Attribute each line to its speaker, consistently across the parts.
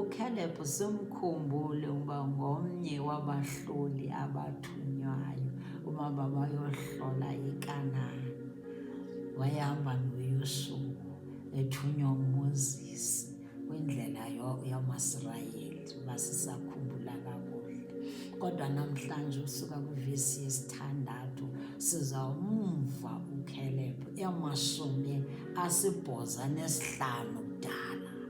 Speaker 1: UCaleb simkhumbule uba ngomnye wabahloli abathunywayo uma babayohlola iKanani. Wayehamba noYosuwa ethunywa uMoses kwindlela yamaSirayeli, uba sisakhumbula kakuhle. Kodwa namhlanje usuka kwivesi yesithandathu sizawumva uCaleb emashumi asibhoza nesihlanu kudala.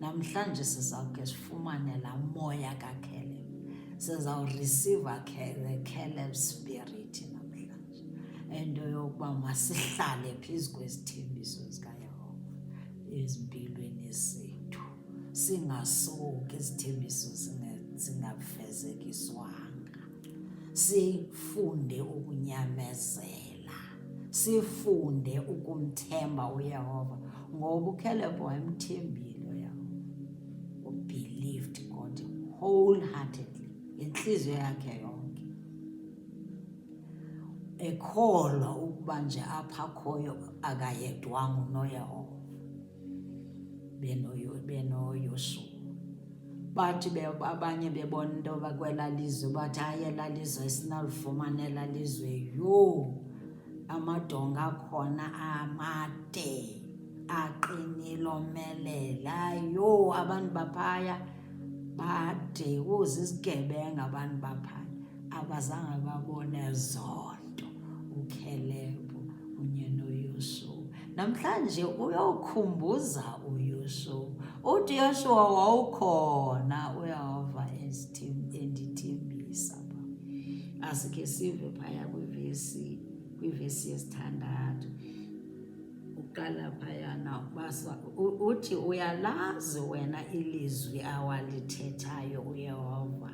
Speaker 1: Namhlanje sizawuke sifumane laa moya kaKeleb. Sizawurisiva the Keleb spirit namhlanje. Into yokuba masihlale phezu kwezithembiso zikaYehova ezimpilweni zethu. Singasuki izithembiso zingafezekiswanga. Sifunde ukunyamezela. sifunde ukumthemba uyehova ngoba ukhelebho wayemthembile uyehova ubelieved god wholeheartedly ngentliziyo yakhe yonke ekholwa ukuba nje apha khoyo akayedwanga unoyehova benoyoshuwa bathi abanye bebona into yoba kwela lizwe bathi hayi ela lizwe sinalifumana ela lizwe yho amadonga akhona amade aqinile omelela yho abantu baphaya bade uze isigebenga abantu baphaya Akwazange babone zonto uKhelebu kunye noYoshuwa. Namhlanje uyokhumbuza uYoshuwa. Uthi Yoshuwa wawukhona uyehova endithembisa. Asike sive phaya kwivesi kwivesi yesithandathu. uqala phayana ubasa uthi uyalazi wena ilizwi awalithethayo uyehova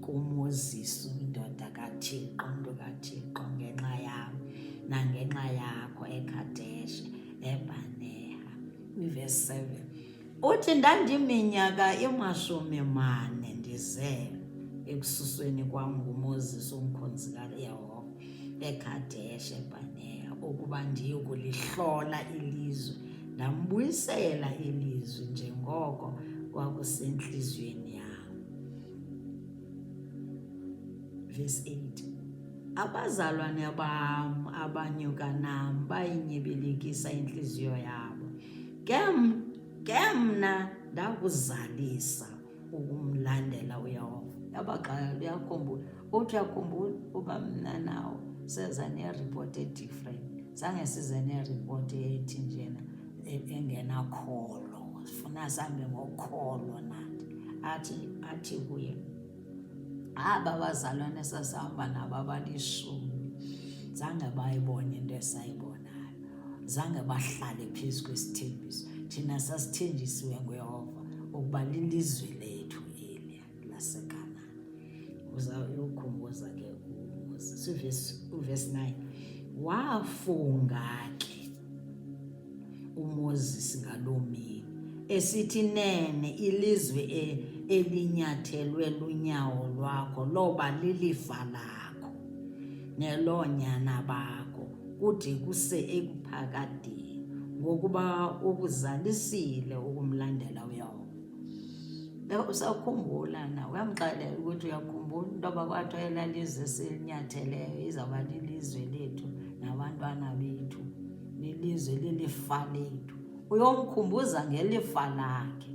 Speaker 1: kumoses indoda kathixo mntu kathixo ngenxa yam nangenxa yakho ekadeshe ebaneha kwivesi 7 Uthi ndandiminyaka imashumi mane ndizelwe ekususweni kwam nguMoses umkhonzi kaYehova eKhadesh eBhaneya ukuba ndiyokulihlola ilizwe ndambuyisela ilizwi njengoko kwakusentliziyweni yam. Verse 8 Abazalwane bam abanyuka nam bayinyibilikisa intliziyo yabo. ke ke mna ndakuzalisa ukumlandela uyehova yabagxaya uyakhumbula uthi uyakhumbula uba mna nawo seza ne-report e-different zange size ne-report ethi njena e, engenakholo sifuna sambe ngokholo nathi athi athi kuye aba bazalwane sasihamba nabo abalishumi zange bayibone into esayibona zange bahlale phezu kwesithembiso thina sasithenjisiwe nguyehova ukuba lilizwe lethu eli lasekanani uzayokhumbuza ke uvesi 9 wafunga ke umoses ngaloo mini esithi nene ilizwe e, elinyathelwe lunyawo lwakho loba lilifa lakho neloonyana bakho kude kuse ekuphakadeni ngokuba ukuzalisile ukumlandela uyawuba usakhumbula na uyamxelela ukuthi uyakhumbula into yoba kwathiwa elalizwe silinyatheleyo izawuba lilizwe lethu nabantwana bethu lilizwe lilifa lethu uyomkhumbuza ngelifa lakhe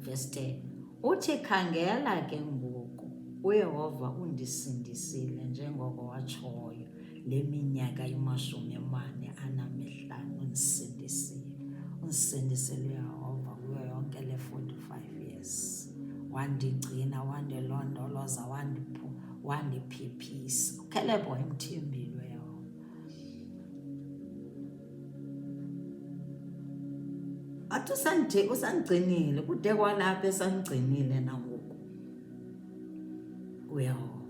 Speaker 1: verse 10 Uthi, Khangela ke ngoku, uYehova undisindisile njengoko watshoyo le minyaka imashumi amane anamihlanu undisindisile. Undisindisile uYehova kuyo yonke le 45 years. Wandigcina, wandilondoloza, wandiphu, wandiphephisa. Ukhelebho emthembile. athi usandithe usandigcinile kude kwalapha esandigcinile nangoku uyehova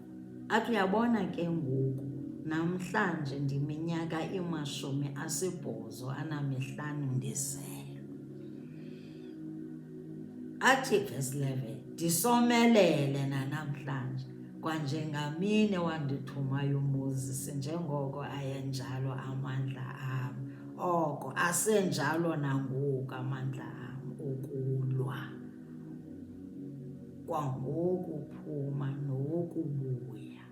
Speaker 1: athi uyabona ke ngoku namhlanje ndiminyaka imashumi asibhozo anamihlanu ndizelwe athi verse 11 ndisomelele nanamhlanje kwanjengamine wandithumayo umoses njengoko ayenjalo amandla am oko asenjalo nangoku amandla am okulwa kwangoku phuma nokubuya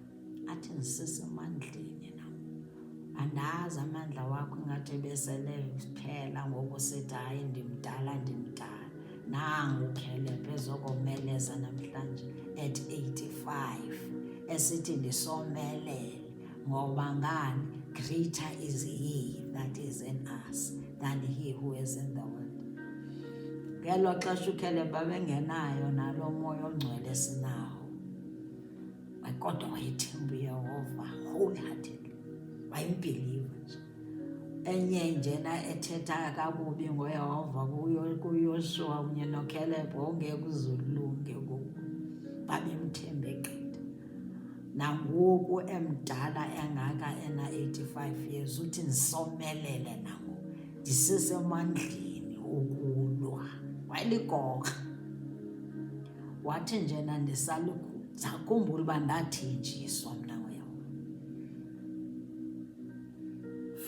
Speaker 1: athi ndisise emandleni nam andazi amandla wakho ingathi ebesele phela ngoku sithi hayi ndimdala ndimdala nangu ukhelebhe ezokomeleza namhlanje at 85 esithi ndisomelele ngoba ngani greater is he that is in us than he who is in the world ngelo xesha ukhelebha bengenayo nalo moya ongcwele sinawo kodwa wayethemba uyehova wholeheartedly wayembhiliva nje enye njena ethetha kakubi ngoyehova kuyoshuwa kunye nokhelebho ongeke uzulunge ngoku babemthembe gqitha nangoku emdala engaka ena-85 years uthi ndisomelele nangoku ndisesemandleni ukulwa wayeligoka wathi njena ndisalukhumbula uba ndathenjiswa mna wena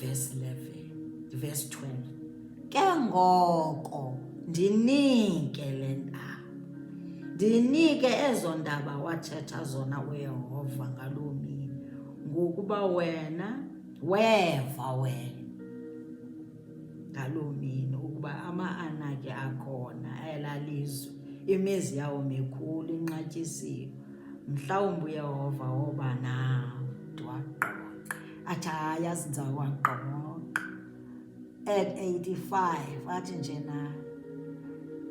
Speaker 1: verse 11 verse 12 ke ngoko ndinike le ndaba ndinike ezo ndaba wathetha zona uyehova ngaloo mini ngokuba wena weva wena ngaloo mini ukuba ama-anaki akhona elalizwe imizi yawo mikhulu inqatyisiwe mhlawumbi uyehova woba nawo ndiwaqoqa athi hayi azinza waqoqa at 85 athi nje na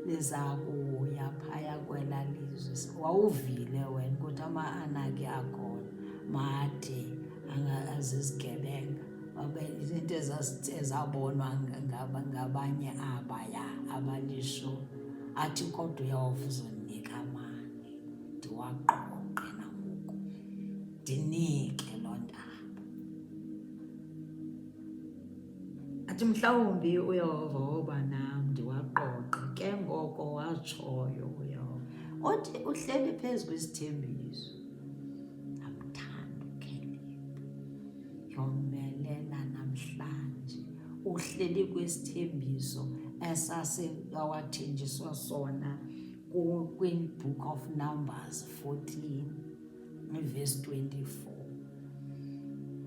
Speaker 1: liza kuya phaya kwela lizwe wawuvile wena ukuthi ama-anaki akhona made azizigebenga izinto ezabonwa ngabanye abaya abalisho athi kodwa uyawuva uzondinika amane ndiwaqoqe nangoku ndinike loo ndaba athi mhlawumbi uyawuva woba nam ndiwaqoqe ke ngoko watshoyo uyawuva othi uhleli phezu kwesithembiso uhleli kwesithembiso esasewathenjiswa sona kwi-book of numbers 14 verse 24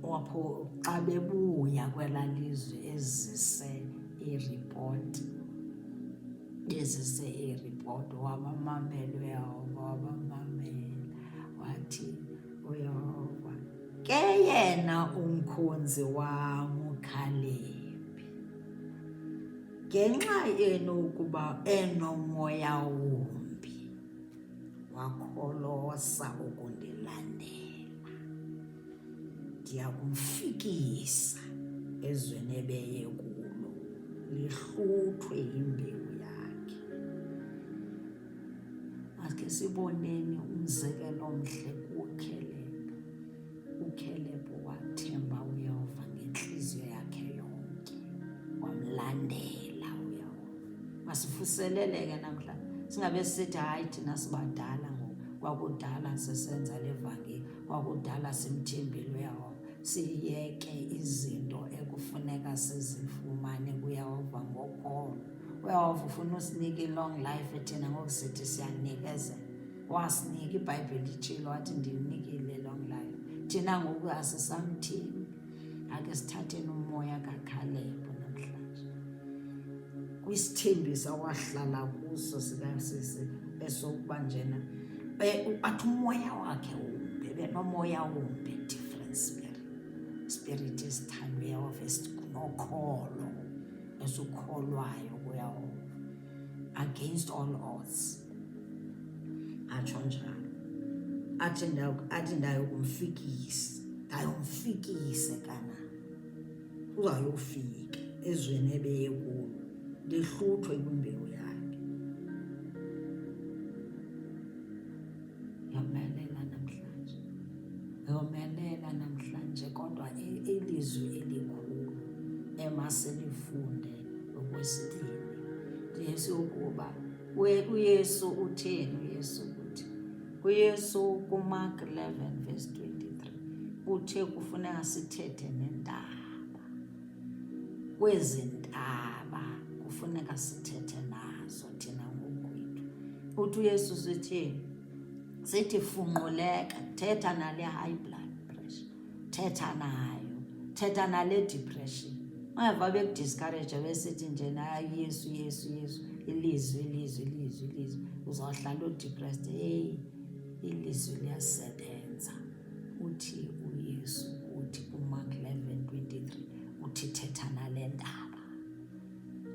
Speaker 1: wapho xa bebuya kwela lizwe ezise iripoti bezise iripoti wabamamela uyehova wabamamela wathi uyehova ke yena umkhonzi wam ukhalebi ngenxa yenu ukuba enomoya wumbi wakholosa ukundilandela ndiya kumfikisa ezweni ebeye kulo lihluthwe yimbewu Akhe siboneni umzekelo omhle kuKhelebe. UKhelebe wathemba uYehova ngentliziyo yakhe yonke, wamlandela uYehova. Masivuseleleke namhlanje singabe sithi hayi thina sibadala ngoku kwakudala sisenza le vangeli kwakudala simthembile uyehova siyeke izinto ekufuneka sizifumane kuyehova ngokholo uyawuva ufuna usinika i-long life thina ngoku sithi siyanikezela wasinika ibhayibhile itshilo wathi ndinikile long life thina ngoku asisamthini ake sithatheni umoya kakhalebo namhlanje kwisithembiso wahlala kuso sikasisi esokuba njena e, athi umoya wakhe wumbi benomoya wumbi different spirit spirit esithandweyo of esinokholo esikholwayo kuyehova against all odds atsho njalo athi athi ndayokumfikisa ndayomfikise kana uzayofika ezweni ebeye kulo ndihluthwe kwimbewu Yomelela namhlanje, yomelela namhlanje, kodwa ilizwi elikhulu emasilifunde okwesibini Yesu ukuba uYesu utheni uYesu ukuthi uYesu kuMark 11 verse 23 uthe kufuneka sithethe nendaba kwezi ntaba kufuneka sithethe nazo thina ngokwethu. Uthi uYesu sithini? Sithi funquleka, thetha nale high blood pressure, thetha nayo, thetha nale depression. Ungeva bekudiscourage besithi nje nayo Yesu, Yesu, Yesu, ilizwi, ilizwi, ilizwi, ilizwi, uzawuhlala udepressed. Heyi, ilizwi liyasebenza. uthi uYesu uthi kuMark 11:23 uthi thetha nale ntaba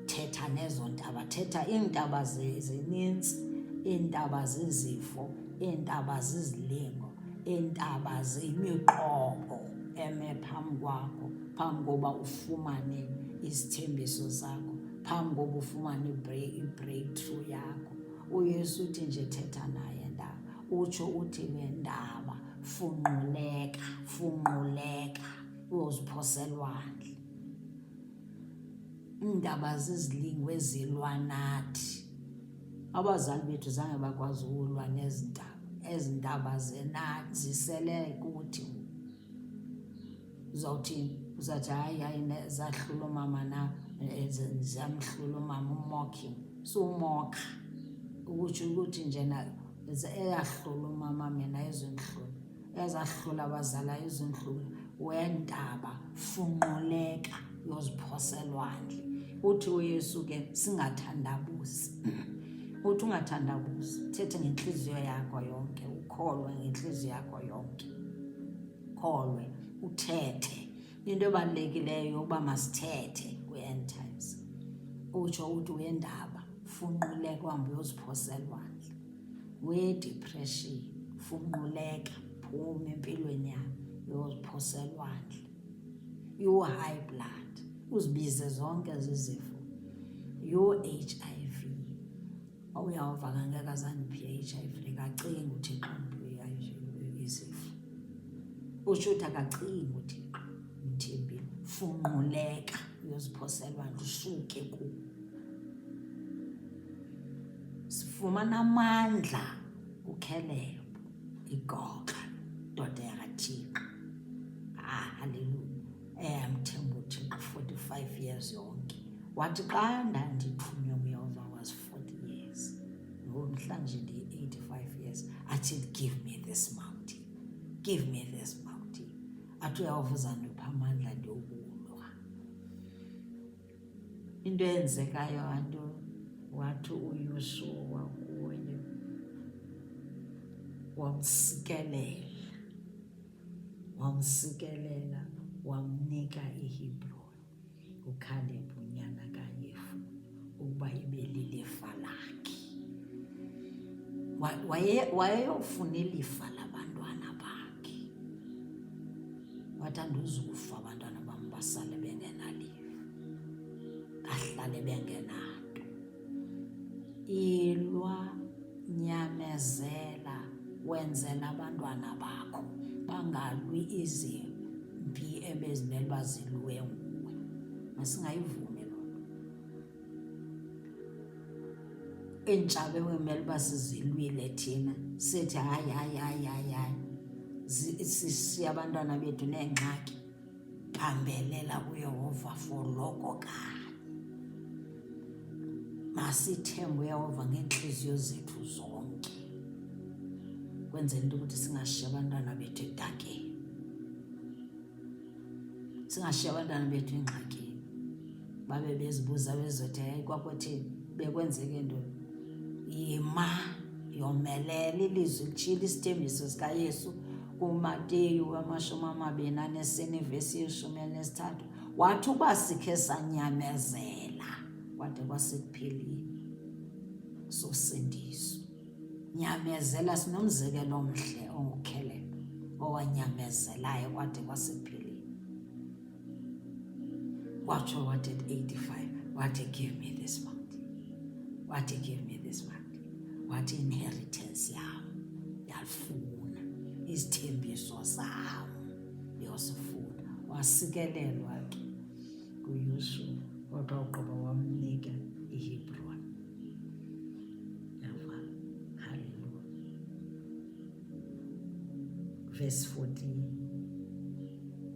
Speaker 1: thetha nezo ntaba thetha iintaba zininzi iintaba zizifo iintaba zizilingo iintaba ziyimiqobo eme phambi kwakho phambi koba ufumane izithembiso zakho phambi koba ufumane i-breakthrough yakho uyesu uthi nje thetha naye utsho uthi nendaba funquleka funquleka uyoziphoselwandle iindaba zizilingo ezilwa nathi abazali bethu zange bakwazi ukulwa nezi ndaba ezi ndaba zisele kuthi uzawuthini uzathi hayi hayi zahlula umama na eh, ziyamhlula umama umocking sumokha ukutsho ukuthi njena eyahlula umama mina ezonhlula ezahlula abazala ezonhlula wendaba funquleka yoziphoselwandle uthi uyesu ke singathandabuzi uthi ungathandabuzi thethe ngentliziyo yakho yonke ukholwe ngentliziyo yakho yonke kholwe uthethe into ebalulekileyo yokuba masithethe kwi-end times utsho uthi uyendaba funquleka uhambe uyoziphosela lwandle wedepression funquleka phuma empilweni yakho uyoziphosela lwandle you-high blood uzibize zonke zizifo you-h i uyawuva kangeke azandiphiya i-hiv lekacinga uthixo izifo utsho uthi akacinga uthixo mthembile funquleka uyoziphoselwa lusuke ku sifumana amandla kukhelelo igoqa ndoda yakathixo ah haleluya eyamthembuthi eh, ngu-45 years yonke wathi xa ndandithunywe nguyohova was 40 years ngomhlanje ndiyi-85 years athi give me this mountain give me this mountain athi uyehova uzandipha amandla ndiyokulwa into eyenzekayo anto wathi uyusuwa kuye wamsikelela wamsikelela wamnika iHebroni uKhaleb unyana kaYefune ukuba ibe lilifa lakhe. Wayeyofuna ilifa labantwana bakhe, wathi andizukufa abantwana bam basale bengenalifa, bahlale bengenalo. Ilwa, nyamezela, wenzela abantwana bakho bangalwi izimpi ebezimele uba zilwe nguwe. Masingayivumi loo nto. Iintshaba ekumele uba sizilwile thina sithi hayi hayi hayi hayi hayi sishiye abantwana bethu neengxaki bambelela kuyehova for loko kanye masithembe uyehova ngeentliziyo zethu zonke kwenzela into ukuthi singashiyi abantwana bethu edakeni singashiyi abantwana bethu engxakini babe bezibuza bezothi hayi kwakuthini bekwenzeke ntoni yima yomelela ilizwi litshile isithembiso sikayesu kumateyu amashumi amabini anesine ivesi yeshumi elinesithathu wathi uba sikhe sanyamezela kwade kwasekupheleni sosindiso nyamezela sinomzekelo omhle ongukhelelo owanyamezelayo kwade kwasekupheleni Wacho wanted 85 wathi give me this month wathi give me this month wathi inheritance yam yalifuna izithembiso zam yosifuna wasikelelwa ke kuyoshuwa kodwa ugqiba wamnika ihebron Verse 14.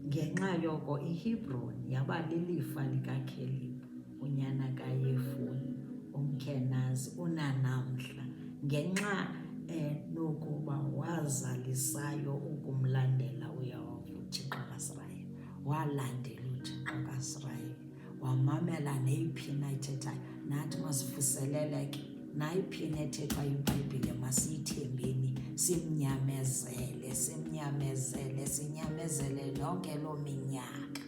Speaker 1: Ngenxa yoko iHebron yaba lilifa likaKhelib, unyana kaYefuni, umKhenazi unanamhla, ngenxa enokuba eh, wazalisayo ukumlandela uYehova uThixo kaSirayeli, walandela uThixo kaSirayeli. wamamela neyiphi na ithethayo nathi masivuseleleke nayiphi na ethethwa yibhayibhile masiyithembeni simnyamezele simnyamezele sinyamezele yonke loo minyaka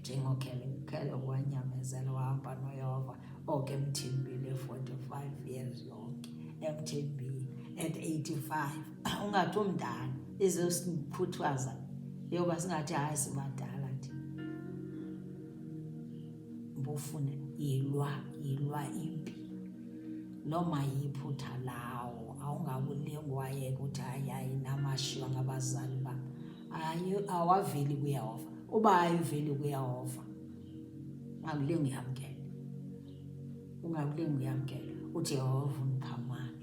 Speaker 1: njengokhele wanyamezela wahamba noyehova oke emthimbile 45 years yonke emthimbile at 85 ungathi omdala ezosikhuthaza yoba singathi hayi sibadala nje mbofuna yilwa yilwa impi noma yiphutha lawo awungakulingi wayeka ukuthi hayi hayi namashiywa ngabazali bam awaveli kuyehova uba ayiveli kuyehova ungakulingi uyamkela ungakulingi uyamkela uthi yehova undiphamana